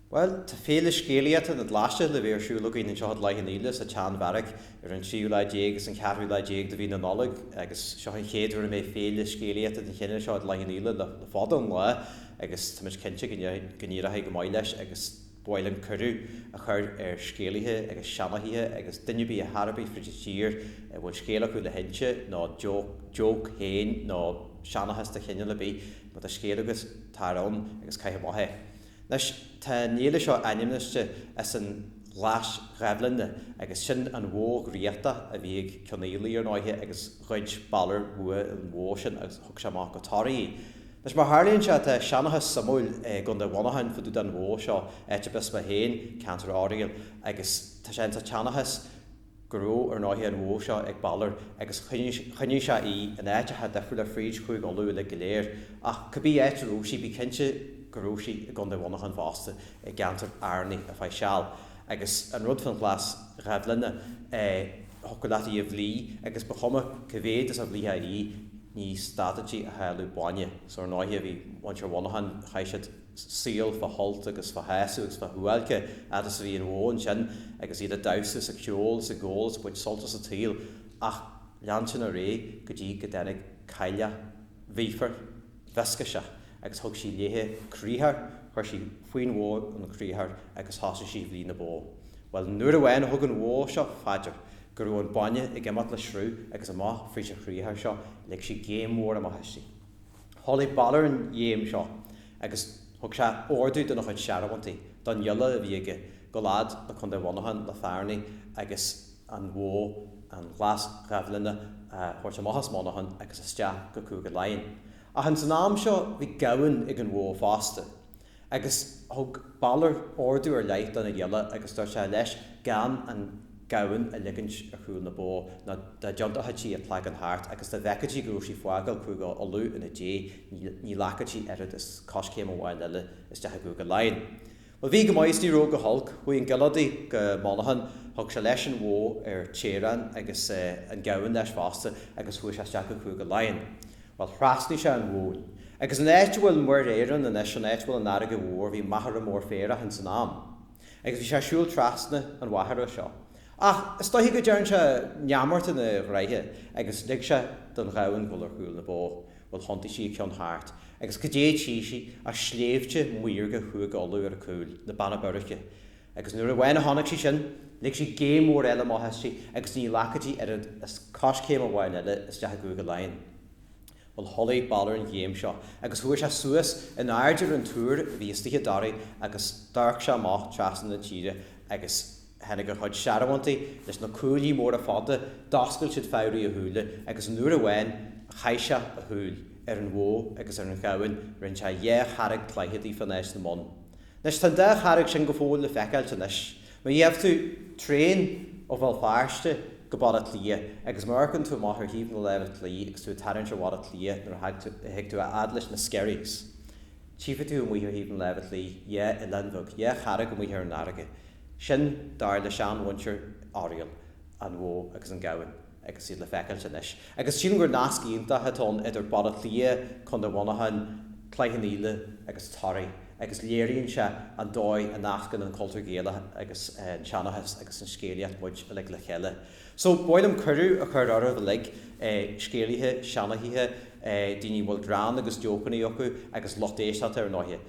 Bhuel, tá féile scéalaíochta na Glaise le bheith ar siúl againn anseo i gCloich Cheann Fhaola sa tSeanbheairic ar an tríú lá déag agus an ceathrú lá déag de mhí na Nollag agus seo an chéad uair a mbeidh féile scéalaíochta den chineál seo i gCloich Cheann Fhaola le fada an lá agus táimid cinnte go n-éireochaidh go maith leis agus ba mhaith linn cuireadh a chur ar scéalaithe agus seanchaithe agus duine ar bith ar chor ar bith fríd an tír a bhfuil scéal acu le hinse nó joke féin nó seanchas de chineál ar bith Má tá scéal agat, tar ann agus caith amach é. Anois, tá an fhéile seo ainmniste as an ghlais ghaibhleanna agus sin an bhó dhraíochta a bhí ag Cionnfhaolaidh ar ndóighe agus ghoid Balor uaidh an bhó sin agus thug sé amach go Toraigh í. Anois, mar a tharlaíonn sé, tá seanchas suimiúil i gCondae Mhuineacháin fá dtaobh den bhó seo, áit arb as mé féin, ceantar Oiriall, agus tá sé ins a' tseanchas, go raibh ar ndóighe an bhó seo ag Balor agus choinnigh sé í in áiteacha difriúla fríd Chúige Uladh uilig go léir, ach cá bith áit a raibh sí, bí cinnte go raibh sí i gCondae Mhuineacháin fosta, i gceantar Fhearnaigh ar feadh seal, agus an rud faoin ghlas ghaibhleanna, é thiocfadh leat í a bhlí agus ba chuma cá mhéad is a bhlítheá í, ní stadfadh sí a shileadh bainne, so ar ndóighe bhí muintir Mhuineacháin, chaith siad. saol fá shult agus fá shásamh agus fá shuáilce fhad is a bhí an bhó ansin agus iad a' damhsa is a' ceol is ag ól is a' baint sult as a' tsaol ach lean sin ar aghaidh go dtí go dtáinig cailleach mhíofar mhioscaiseach agus thug sí léithe criathar, chuir sí faoin bhó an criathar agus thosaigh sí a bhlí na bó. Bhuel nuair amháin thug an bhó seo fá dear go raibh an bainne ag imeacht le sruth agus amach fríd a' chriathar seo lig sí géim mhór amach aisti. Chualaidh Balor an ghéim seo agus thug sé órdú dona chuid searbhóntaí, don ghiolla a bhí aige, dul fhad le Condae Mhuineacháin, le Fearnaigh agus an bhó, an Ghlas Ghaibhleanna, a thabhairt amach as Muineachán agus isteach go Cúige Laighean. Ach ins an am seo bhí gamhain ag an bhó fosta. Agus thug Balar ordú ar leith dona ghiolla agus dúirt sé leis gan an gamhain a ligint ar chúl na bó nó dá dtiontóchadh sí a cloigeann thart agus dá bhfeicfeadh sí go raibh sí fágáil Cúigeadh Uladh ina diaidh ní ghlacfadh sí oiread is coiscéim amháin eile isteach i gCúigeadh Laighean. Bhuel bhí go maith is ní raibh go holc. Chuaigh an giolla adaí go Muineachán, thug sé leis an bhó ar teaghrán agus an gamhain leis fosta agus chuaigh sé isteach go Cúigeadh Laighean. Bhuel, thrasnaigh sé an Bhóinn. Agus an áit a bhfuil Muir Éireann anois, an áit a bhfuil an fharraige mhór, bhí machaire mór féarach ins an am. Agus bhí sé ag siúl trasna an mhachaire seo. Ach is dóiche go dtearn sé neamart ina ghroithe agus lig sé don ghamhain dhul ar chúl na bó. Bhuel, thiontaigh sí a ceann thart. Agus cad é a tchí sí ach sléibhte maorga Chúige Uladh ar a cúl, na Beanna Boirche. Agus nuair amháin a chonaic sí sin, lig sí géim mhór eile amach aisti agus ní ghlacfadh sí oiread is coiscéim amháin eile isteach i gCúige Laighean. Bhuel, chuala Balor an ghéim seo agus chuaigh sé suas in airde ar an túr a bhí istigh i dToraigh agus d'amharc sé amach trasna na tíre agus tháinig a chuid searbhóntaí leis na cuaillí móra fada, d'oscail siad fabhraí a shúile agus nuair amháin a chaith sé a shúil ar an bhó agus ar an ghamhain, rinne sé dhá charraig cloiche díofa in áit na mbonn. Anois, tá an dá charraig sin go fóill le feiceáilt anois. Má gheibh tú traein ó Bhéal Feirste go Baile Átha Cliath agus má amharcann tú amach ar thaobh na láimhe clí agus tú ag tarraingt ar Bhaile Átha Cliath nuair a thig tú a fhad leis na Skerries, tchífidh tú amuigh ar thaobh na láimhe clí dhá oileán bheag, dhá charraig amuigh ar an fharraige. Sin, dar le seanmhuintir Oiriall, An Bhó agus an Gamhain. agus iad le feiceáilt anois. Agus sílim gur nasc iontach atá ann idir Baile Átha Cliath, Contae Mhuineacháin, Cloich Cheann Fhaola agus Toraigh agus léiríonn sé an dóigh a nascann an cultúr Gaelach agus an tseanchas agus an scéalaíocht muid uilig le chéile. So, ba mhaith liom cuireadh a chur oraibh uilig, scéalaithe, seanchaithe, daoine a bhfuil greann agus jócannaí acu agus lucht éisteachta ar ndóighe.